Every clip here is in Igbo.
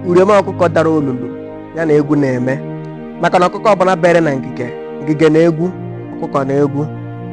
uriom ọkụkọ dara olulu ya na egwu na-eme maka na ọkụkọ ọbụla bere na ngige ngige na egwu ọkụkọ na egwu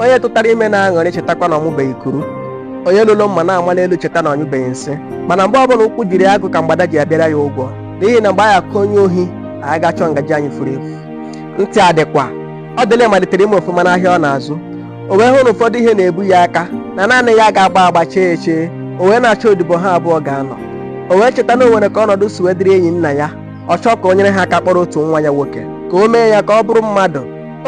onye tụtara ime na-aṅụrị chetakwa na ọ mụbeghị kuru onye loro mma na-ama n'elu cheta na ọ nyụbeghị nsị mana mgbe ọbụla ụkwụ jiri agụ ka mgbada ji abịara ya ụgwọ n'ihi na mgbe anyị akụ onye ohi anyị ga-achọ ngaji anyị furu efu ntị adịkwa ọdịlị malitere ime ọfụma n'ahịa ọ na-azụ o wee hụ na ụfọdụ ihe na-ebu ya aka na naanị ya ga-agba agba chee echee o wee na-achọ odibo ha abụọ ga-anọ o wee cheta na o nwere ka ọnọdụ si wee dịrị enyi nna ya ọ chọọ ka o nyere ha aka kpọrọ otu nwa ya nwoke ka o mee ya ka ọ bụrụ mmadụ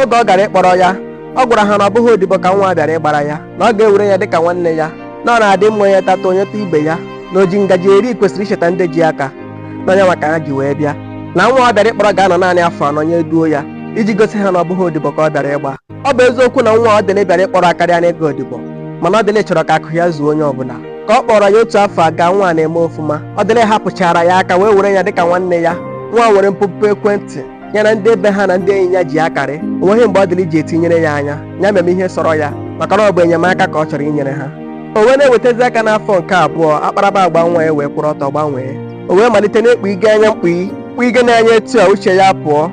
oge ọ gara ịkpọrọ ya ọ gwara ha na ọ bụghị odibo ka nwa bịara ịgbara ya na ọ ga-ewere ya dịka nwanne ya na ọ na-adị mma onye tata o nyetụ ibe ya na o ji ngaji eri kwesịrị icheta ndị ji aka na enyemaka ha ji wee bịa na nwa ọ bịara ịkpọrọ ga-anọ naanị afọ anọ nya eduo ya iji gosi ha na ọ bụghị odibo ka ọ bịara ịgba ọ bụ eziokwu na nwa ọdịlị bịara ịkpọrọ akarịana ịga odibo mana ọdịlị chọrọ ka akụ ya zuo onye ọbụla ka ọ kpọrọ ya otu afọ agaa nwa na-eme ọfụma ọdịlị hapụchaara ya aka wee were ya dịka nwanne ya nwa nwere mpụpụ ekwentị ya na ndị ebe ha na ndị enyi ya ji akarị o nweghị mgbe ọdịlị ji etinyere ya anya ya meme ihe sọrọ ya maka na ọ bụ enyemaka ka ọ chọrọ inyere ha o wee na-ewetazi aka n'afọ nke abụọ akparamagwa nwa a wee kwụrụ ọtọ gbanwee o wee malite na-ekpu ige anya mkpughe mkpughe na-anya etu a uche ya pụọ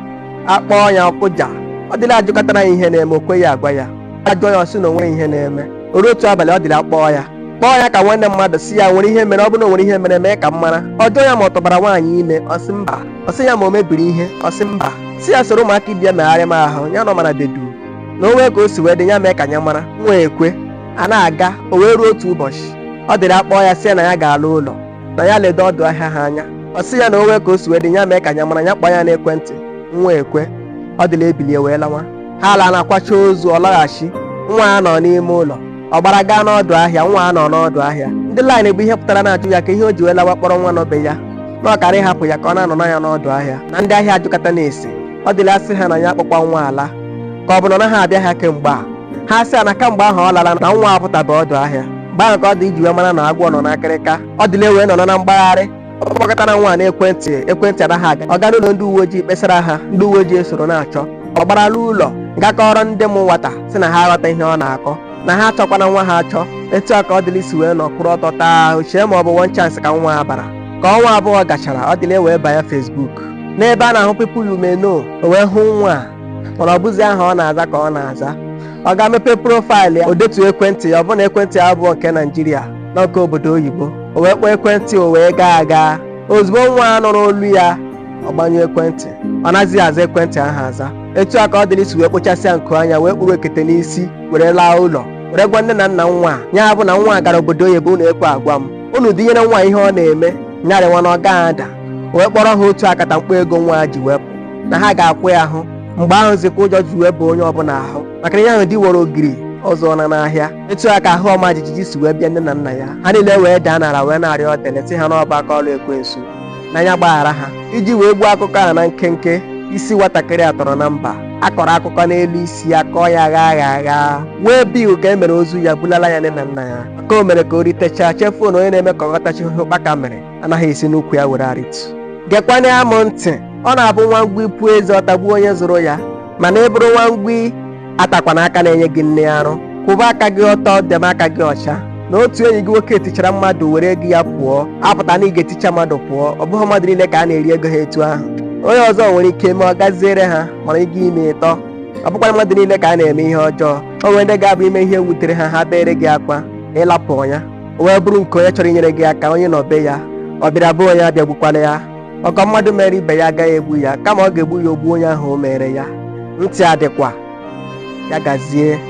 akpọọ ya ọ kụja ọdịlị ajụkatara ya ihe na-eme o kweghị agwa ya a jụọ ya ọ sị na o nwee ihe na-eme o ruo otu abalị ọdịlị akpọọ ya kpọọ ya ka nwanne mmadụ sị ya nwere ihe mere ọ bụrụ na o nwere ihe mere mee ka m mara ọ jụọ ya ma ọ tụbara nwaanyị ime ọ sị mba ọ sị ya ma o mebiri ihe ọ sị mba sị ya soro ụmụaka ibe ya megharịma ahụ ya nọ mana dee duu na o nwee ka o si wee dị ya mee ka ya mara nwa ekwe a na-aga o wee ruo otu ụbọchị ọdịlị akpọọ ya sị ya na ya ga-ala ụlọ na ya ledo ọdụ ahịa ha anya ọ sị ya na o nwee ka o si wee dị ya mee ka ya mara ya kpọọ ya n'ekwentị nwa ekwe ọdịlị ebilie wee lawa ha ala na-akwacha ozu ọ laghachi nwa anọ n'ime ụlọ ọ gbara gaa n'ọdụ ahịa nwa anọ n'ọdụ ahịa ndị line bụ ihe pụtara na-ajụ ya ka ihe o ji wee lawa kpọrọ nwa nọ be ya na ọ kaara ịhapụ ya ka ọ na-anọ na ya n'ọdụ ahịa na ndị ahịa ajụkatana ese ọdịlị asị ha na ya akpọkwa nwa ala ka ọ bụ na ọ naghị abịa ahịa kemgbe a ha sị ya na kamgbe ahụ ọ lala na nwa apụtabe ọdụ ahịa mgbe ahụ ka ọdịlị ji wee mara na agwọ nọ n'akịrịka ọdịlị wee nọ na mgbagharị ọ kpọkatara nwa n'ekwentị ekwentị anaghị aga ọ gara ụlọ ndị uwe ojii kpesara ha ndị uwe ojii esoro na-achọ ọ gbara laa ụlọ ga kọọrọ ndị mụ nwata sị na ha aghọta ihe ọ na-akọ na ha achọkwana nwa ha achọ etu a ka ọdịlị si wee nọ kwụrụ ọtọ taa ahụ chee ma ọ bụ one chance ka nwa a bara ka ọnwa abụọ gachara ọdịlị wee banye facebook n'ebe a na-ahụ people you may know o wee hụ nwa a mana ọ bụzi aha ọ na-aza ka ọ na-aza ọ gaa mepee profaịlụ ya o detu ekwentị ya ọbụna ekwentị ya abụọ nke naijiria na nke obodo oyibo o wee kpọọ ekwentị o wee gaa aga ozugbo nwa a nụrụ olu ya ọ gbanyụ ekwentị ọ nazighị aza ekwentị ahụ aza etu a ka ọdịlị si wee kpochasịa nku anya wee kpuru ekete n'isi were laa ụlọ were gwa nne na nna nwa a ya bụ na nwa a gara obodo oyibo unu ekwe agwa m unu dịnyere nwa ihe ọ na-eme nya rịwa na ọ gaghị ada o wee kpọọrọ ha otu akatamkpo ego nwa a ji wee pụọ na ha ga-akwụ ya ahụ mgbe ahụ zi ka ụjọ ji wee baa onye ọbụla ahụ maka na ihe ahụ di wọrọ ogori ọ zụọla n'ahịa etu a ka ahụ ọma jijiji si wee bịa nne na nna ya ha niile wee daa n'ala wee na-arịọ ọdịlị sị ha na ọ bụ aka ọrụ ekwensu na ya gbaghara ha iji wee gbuo akụkọ a na nkenke isi nwatakịrị a tọrọ na mba a kọrọ akụkọ n'elu isi ya kọọ ya gha gha gha wee bie ka e mere ozu ya bulala ya nne na nna ya maka o mere ka o ritechaa chefuo na onye na-eme ka ọ ghọtachaa ihe ụkpaka mịrị anaghị esi n'ukwu ya were arịtu gekwanụ m ntị ọ na-abụ nwa ngwii puo eze ọ tagbuo onye zụrụ ya mana ị bụrụ nwa ngwii atakwana aka na-enye gị nri arụ kwụba aka gị ọtọ debe aka gị ọcha na otu enyi gị nwoke tichara mmadụ were ego ya pụọ apụtaghị na ị ga-eticha mmadụ pụọ ọ bụghị mmadụ niile ka a na-eri ego ha etu ahụ onye ọzọ nwere ike ime ọ gaziere ha mana ị gaa ime ị tọ ọ bụkwara mmadụ niile ka a na-eme ihe ọjọọ o nwere ndị ga-abụ i mee ihe wutere ha ha beere gị akwa ịlapụ ya o wee bụrụ nke onye chọrọ inyere gị aka onye nọ be ya ọ bịara be onye abịagbukwana ya ọgọ mmadụ mere ibe ya agaghị egbu ya kama ọ ga-egbu ya o gbuo onye ahụ o mere ya ntị adịkwa ya gazie